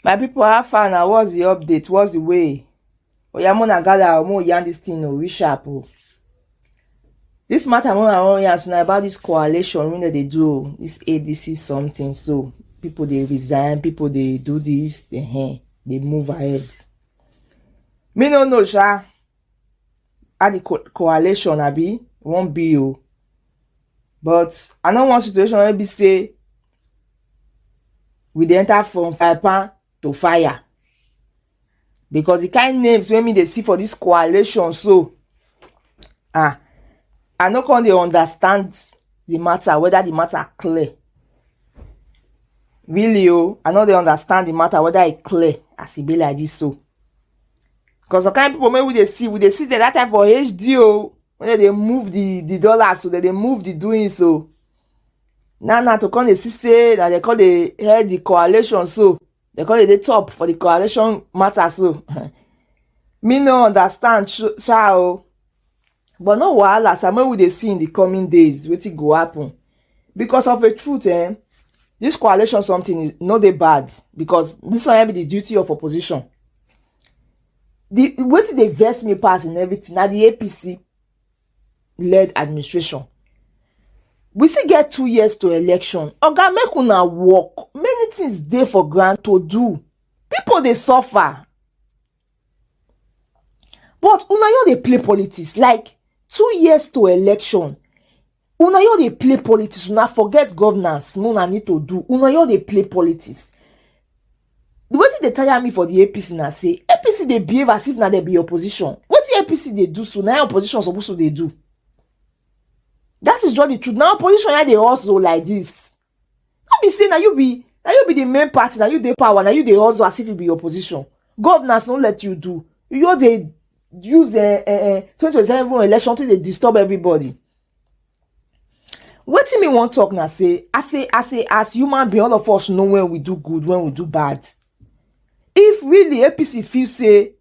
my people how far now? what's the update what's the way oya mona gather o mo yarn this thing o oh, reshap o. Oh. This matter wey I wan yarn na about this coalition wey dem dey do o, this ADC something so. People dey resign, people dey do this, uh -huh, dey move ahead. Me no know sha how the co coalition abi wan be o, but I no want situation wey be say we dey enter from fire pan to fire. because the kind names wey me dey see for this coalition so ah i no come dey understand the matter whether the matter clear really o oh, i no dey understand the matter whether e clear as e be like this so because some kind people wey we dey see we dey see them that time for hd o oh, when they dey move the the dollars so they dey move the doing so oh. now now to come dey see say na they come dey head the coalition so They call it the top for the coalition matter so. Me no understand sha o. But no wahala, some we dey see in the coming days wetin go happen. Because of the truth eh, this coalition something is no dey bad because this one be the duty of opposition. The wetin dey vex me pass in everything na the APC led administration we still get two years to election oga make una work many things dey for ground to do people dey suffer but una yo dey play politics like two years to election una yo dey play politics una forget governance una need to do una yo dey play politics wetin dey tire me for the apc na say apc dey behave as if na dem be opposition wetin apc dey do so na opposition suppose to dey do that is just the truth na opposition na dey hustle like this no be say na you be na you be the main party na you dey power na you dey hustle as if you be opposition governance no let you do you just dey use uh, uh, uh, 2027 election to dey disturb everybody wetin me wan talk na say as a as a as human being all of us know when we do good when we do bad if really apc feel say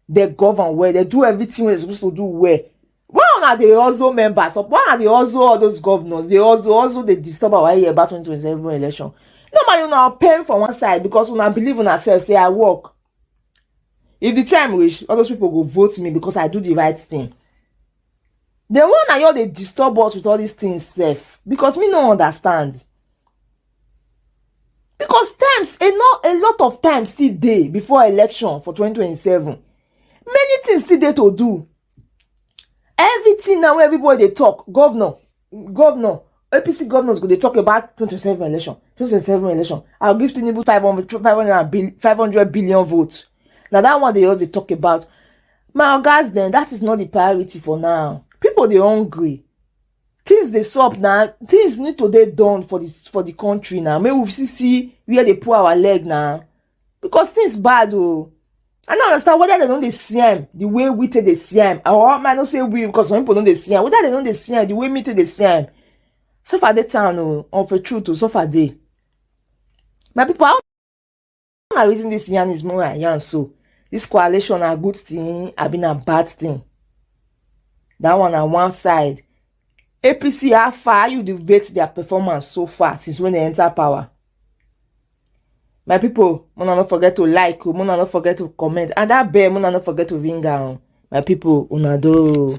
they govern well they do everything wey they suppose to do well why una dey hustle members up why una dey hustle all those governors dey hustle hustle dey disturb our ear about 2027 election normally una pay for one side because una believe una sef say i work If the time reach, all those people go vote me because I do the right thing. The one na you dey disturb us with all these things sef because me no understand. Because times, a, not, a lot of time still dey before election for 2027. Many things still dey to do. Everything now wey everybody dey talk, governor, governor apc governors go dey talk about 2027 election 2027 election i'll give tinubu 500 500 500 billion votes na that one dey just dey talk about my ogas dem that is not the priority for now people dey hungry things dey sup na things need to dey done for the for the country na make we see see where dey pull our leg na because things bad oh. I don't understand whether they don't dey see am the way we take dey see am or I no say we because some people don't dey see am whether they don't dey see am the way me take dey see am suffer dey town o oh, of a truth o oh, suffer dey my people how na reason this yarn is more than yarn so this coalition na good thing abi na bad thing that one na one side apc how far how you dey rate their performance so far since when they enter power my people mona no forget to like o mona no forget to comment and that bell mona no forget to ring am my people una do.